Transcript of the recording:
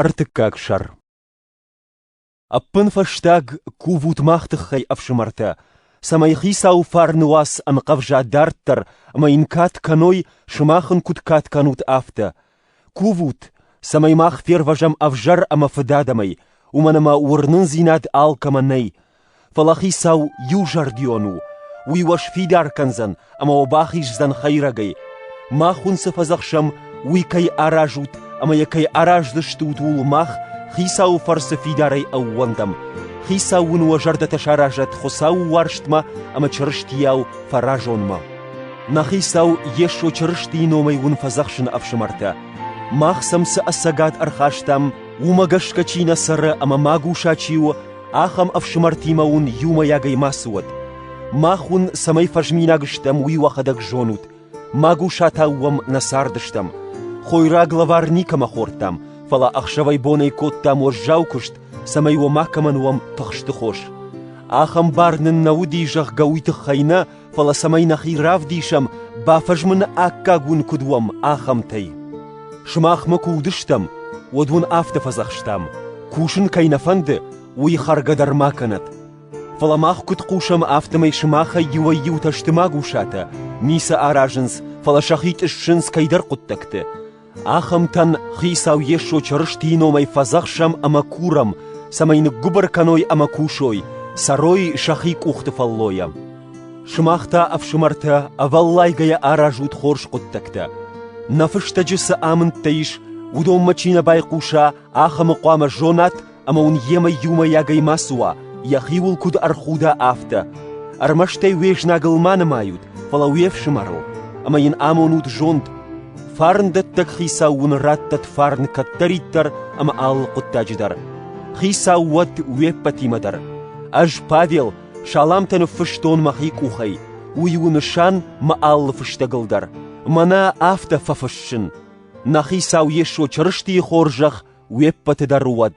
Ӕртыккаг сӕр Ӕппынфӕстаг кувут мах тыххӕй, ӕфсымӕртӕ, цӕмӕй Хицауы фарны уац ӕнхъӕвза дарддӕр ӕмӕ йын кад кӕной, сымах ын куыд кад кӕнут, афтӕ. Кувут, цӕмӕй мах фервӕзӕм ӕвзӕр ӕмӕ фыд адӕмӕй, уымӕн ӕмӕ уырнындзинад алкӕмӕ нӕй, Фӕлӕ Хицау иузӕрдион у, уый уӕ сфидар кӕндзӕн ӕмӕ уӕ бахиздзӕн хӕйрӕгӕй. Мах уын цы фӕдзӕхсӕм, уый кӕй аразут ӕмӕ йӕ кӕй араздзыстут, ууыл мах Хицауы фӕрцы фидарӕй ӕууӕндӕм. Хицау уын уӕ зӕрдӕтӕ саразӕт Хуыцауы уарзтмӕ ӕмӕ Чырыстийау фӕразонмӕ. Нӕ Хицау Йесо Чырыстийы номӕй уын фӕдзӕхсын ӕфсымӕртӕ: мах сӕм цы ӕцӕгад ӕрхастам, уымӕ гӕсгӕ чи нӕ цӕры ӕмӕ магуса чи у, Ахӕм ӕфсымӕртимӕ уын иумӕйагӕй мацы уӕд. Мах уын, цӕмӕй фӕзминаг стӕм, уый уӕхӕдӕг зонут. Магусатау уӕм нӕ цардыстӕм. Хойраг лӕвар никӕмӕ хордтам, фӕлӕ ӕхсӕвӕй-бонӕй кодтам уӕззау куыст, цӕмӕй уӕ макӕмӕн уӕм тыхсты хос. Ахӕм бар нын нӕ уыди, зӕгъгӕ, уый тыххӕй нӕ, фӕлӕ цӕмӕй нӕхи равдисӕм, бафӕзмыны аккаг уын куыд уӕм, ахӕмтӕй. Сымахмӕ куы уыдыстӕм, уӕд уын афтӕ фӕдзӕхстам: кусын кӕй нӕ фӕнды, уый хӕргӕ дӕр ма кӕнӕт. Фӕлӕ мах куыд хъусӕм, афтӕмӕй сымахӕй иуӕй-иутӕ сты магусатӕ, ницы аразынц, фӕлӕ сӕхи тъыссынц кӕйдӕр хъуыддӕгты. Ахӕмтӕн Хицау Йесо Чырыстийы номӕй фӕдзӕхсӕм ӕмӕ курӕм, цӕмӕй ныггуыбыр кӕной ӕмӕ кусой, цӕрой сӕхи къухты фӕллойӕ. Сымах та, ӕфсымӕртӕ, ӕвӕллайгӕйӕ аразут хорз хъуыддӕгтӕ. Нӕ фыстӕджы цы амындтӕ ис, уыдонмӕ чи нӕ байхъуса, ахӕмы хъуамӕ зонат ӕмӕ уын йемӕ иумӕйагӕй мацы уа, йӕхиуыл куыд ӕрхуда, афтӕ. Ӕрмӕстӕй уе знагыл ма нымайут, фӕлӕ уе фсымӕрыл, ӕмӕ йын амонут зонд. Фарндӕттӕг хицау уын раттӕт фарн кӕддӕриддӕр ӕмӕ алы хъуыддаджы дӕр. Хицау уӕд уе ппӕтимӕ дӕр. Ӕз, Павел, саламтӕ ныффыстон мӕхи къухӕй, уый у нысан мӕ алы фыстӕгыл дӕр. Мӕнӕ афтӕ фӕфыссын: Нӕ хицау Йесо Чырыстийы хорзӕх уе ппӕты дӕр уӕд.